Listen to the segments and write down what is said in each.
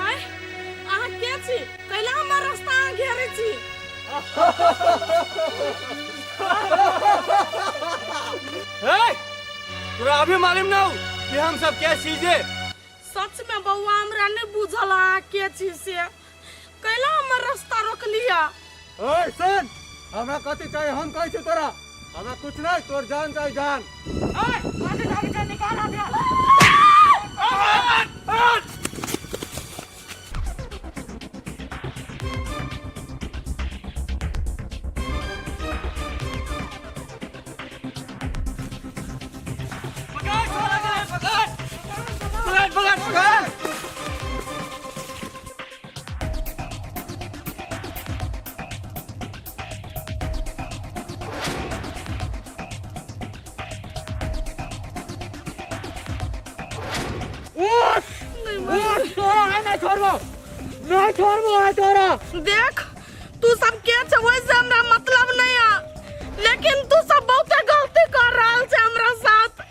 हाय अहाँ के छी कैला हमर रास्ता अहाँ घेरे छी हे तोरा अभी मालूम ना हो कि हम सब क्या चीजे सच में बउआ हमरा नहीं बुझल अहाँ के छी से कैला हमर रास्ता रोकलिया ओए सुन हमरा कथी चाहिए हम कहै छी तोरा हमरा कुछ नहीं तोर जान चाहे जान ओए कथी जान के निकाल आ गया पकड़ पकड़ पकड़ पकड़ देख तू सब के छे ओइ से हमरा मतलब नहीं है लेकिन तू सब बहुत गलती कर रहल छे हमरा साथ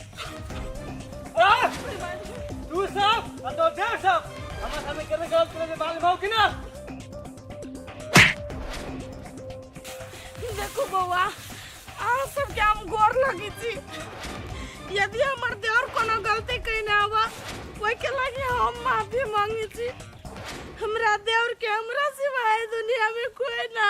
तू साफ और तो देव साफ हमारे सामने करने का तेरे से बाल भाव कि ना देखो बउआ अहाँ सबके हम गोर लगी छी यदि हमर देवर कोनो गलती कइने आबा ओहि के लागे हम माफी मांगी छी हमरा देवर के हमरा सिवाय दुनिया में कोई ना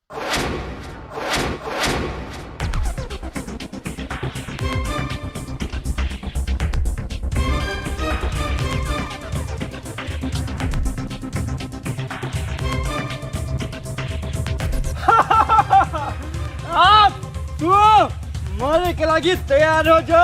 आप तू मरे के लागी तैयार हो जा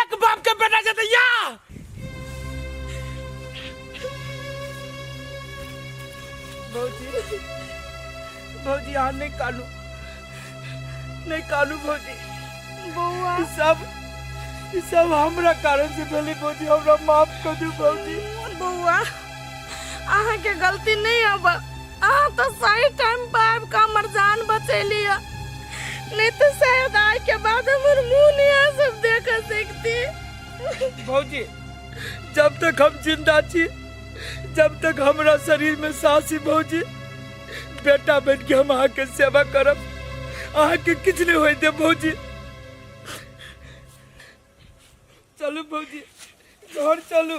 एक बाप के बेटा जतैया भौजी भौजी यहाँ नहीं कानू नहीं कानू भौजी बउआ ई सब ई सब हमरा कारण से भेली भौजी हमरा माफ कर दू भौजी बउआ अहाँ के गलती नहीं अब अहाँ तो सही टाइम पर आबि कऽ हमर जान बचैली ह नहीं तो शायद आय के बाद हमर मुंह नहीं आ सब देख सकती भौजी जब तक हम जिंदा छी जब तक हमरा शरीर में सांस छी भौजी बेटा बन के हम अहाँ के सेवा करब अहाँ के किछ नहीं होय दे भौजी चलू भौजी घर चलू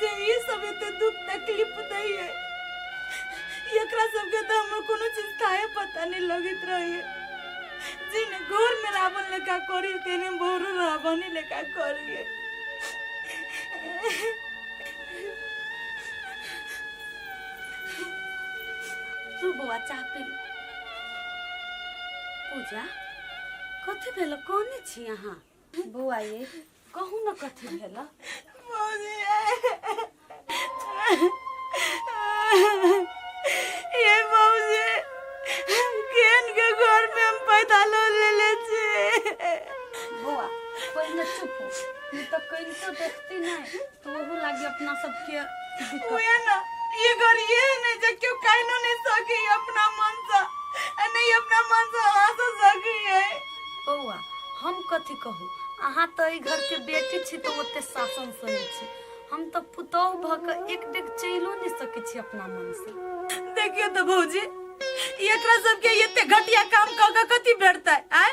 जे ई सब एते दुख तकलीफ दै है एकरा सबके तो हमर कोनो चीज काहे पता नहीं लगित रही है जिने घोर में रावण लेखा करी तेने भोर रावण ही लेखा करी है तू बौआ चाह पी ले। पूजा कथी भेल कौन छी अहाँ बौआ ये कहू ने कथी भेल मौजी ये मौजी हम केन के घर में हम पैदा लो ले ले छी बौआ पहिने चुप हो ई तऽ कनिको देखती नहि तो ओहो लागे अपना सबके दिक्कत उहे ना ये घर ये है ना जे क्यों काइनो नहीं सकी अपना मन से आ नहीं अपना मन से हंस सकी है बौआ हम कथी कहू अहाँ तो एहि घर के बेटी छी तो ओते शासन सही छी हम तो पुतोह भ के एक डेग चलियो नहीं सके छी अपना मन से देखियो तो भौजी एकरा सबके एते घटिया काम क के कथी भेटतै आय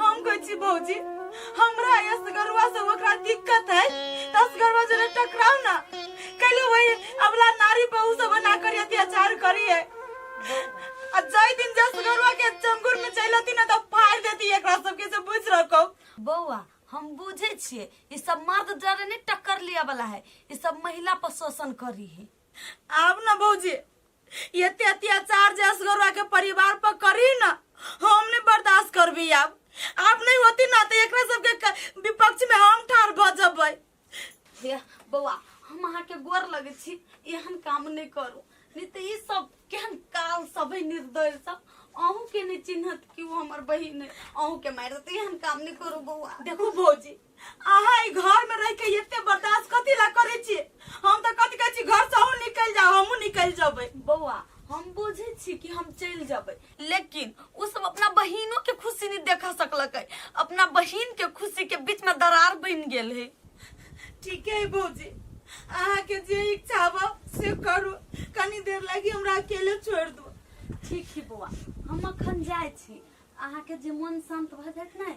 हम कहै छी भौजी हमरा असगरवा से ओकरा दिक्कत है त असगरवा जरा टकराओ ना कैले वही अबला नारी पे उ सब ना करी अत्याचार करी है आ जय दिन जे असगरवा के चंगुर में चलती ना त फाड़ देती एकरा सब के से बुझ रखो बौआ हम बुझे छिए ई सब मर्द जरे नहीं टक्कर लिया वाला है ई सब महिला पर शोषण करी है आब ना भौजी ये अत्याचार जे असगरुआ के परिवार पर करी ना हम नहीं बर्दाश्त करबी अब आप नहीं होती ना तो एकरा सबके क- विपक्ष में हम ठार भ जबै हे बौआ हम अहाँके गोर लगै छी एहन काम नहि करू नहि तऽ ई सब केहन काल सब है निर्दय सब अहूँ के नहि चिन्हत कि ओ हमर बहिन है अहूँ के मारि देत एहन काम नहि करू बौआ देखू भौजी अहाँ ई घर में रह के एते बर्दाश्त कथी ला करे छी हम तो कथी कहै छी घर से अहूँ निकल जाओ हमहूँ निकल जबै बौआ हम बुझे छी कि हम चल जबै लेकिन उ सब अपना बहिनों के खुशी नहीं देखा सकलक है अपना बहिन के खुशी के बीच में दरार बन गेल है ठीक है भौजी अहाँ के जे इच्छा हो से करू कनी देर लगी हमरा अकेले छोड़ दू ठीक है बौआ हम अखन जाय छी अहाँ के जे मन शांत भ जायत ने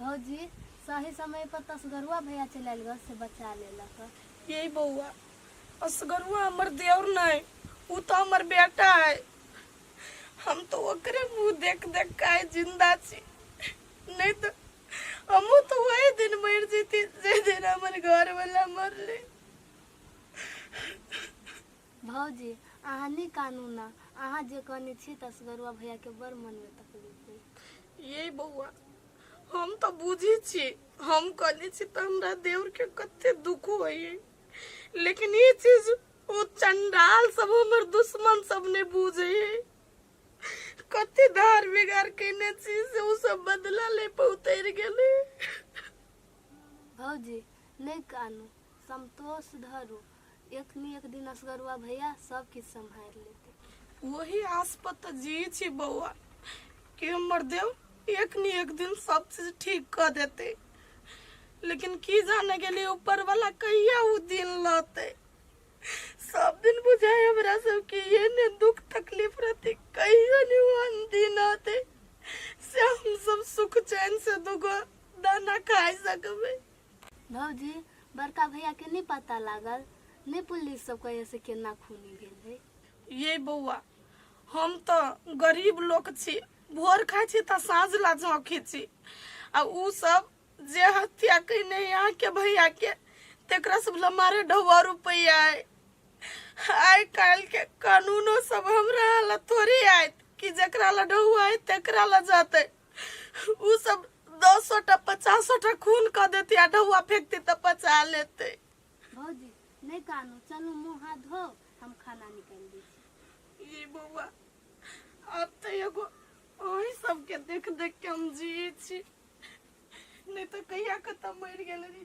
भौजी सही समय पर तसगरुआ भैया चल आयल घर से बचा लेलक यही बउआ असगरुआ हमर देवर नहीं उ तो हमर बेटा है हम तो ओकरे मुंह देख देख के आए जिंदा छी नहीं तो हमू तो वही दिन मर जीती जे दिन हमर घर वाला मरले भौजी, अहाँ नहि कानू ने। अहाँ जे कने छी तऽ असगरुआ भैयाके बड़ मनमे तकलीफ होइए। यै बौआ, हम तऽ बुझै छी हम कने छी तऽ हमरा देवरके कते दुख होइए। लेकिन ई चीज ओ चंडाल सब हमर दुश्मन सब नहि बुझैए। कते धार बिगार केने छी से ओ सब बदला ले पहुँचि गेलै। भौजी, नहि कानू। संतोष धरू एक ने एक दिन असगरुआ भैया सब किछु सम्हारि लेतै वही आस पर तऽ जी छी बौआ कि हमर देव एक ने एक दिन सब चीज ठीक कऽ देतै लेकिन की जाने गेली ऊपर वाला कहिया ओ दिन लतै सब दिन बुझाय हमरा सब के ये ने दुख तकलीफ रहते कहियो ने वो अनदिन आते से हम सब सुख चैन से दुगो दाना खाय सकबे भौजी बड़का भैया के नहीं पता लागल नहीं पुलिस सब कहे से केना खूनी भेल है ये बौआ हम तो गरीब लोग छी भोर खाइ छी तऽ साँझ ला झोंकी छी आ ऊ सब जे हत्या कयने अइ अहाँके भैयाके तकरा सब लए मारे ढौआ रुपैआ अइ आइ काल्हिके कानूनो सब हमरा लए थोड़ी आयत कि जकरा लए ढौआ अइ तकरा लए जेतै उ सब दस सौ टा पचास सौ टा खून कर देती आ ढौआ फेंकती तो पचा लेते भौजी नहीं कानू चलो मुँह हाथ धो हम खाना निकाल दी ये बौआ अब तो एगो अही सबके देख देख के हम जिए छी नहीं तो कहिया के तो मर गेल रही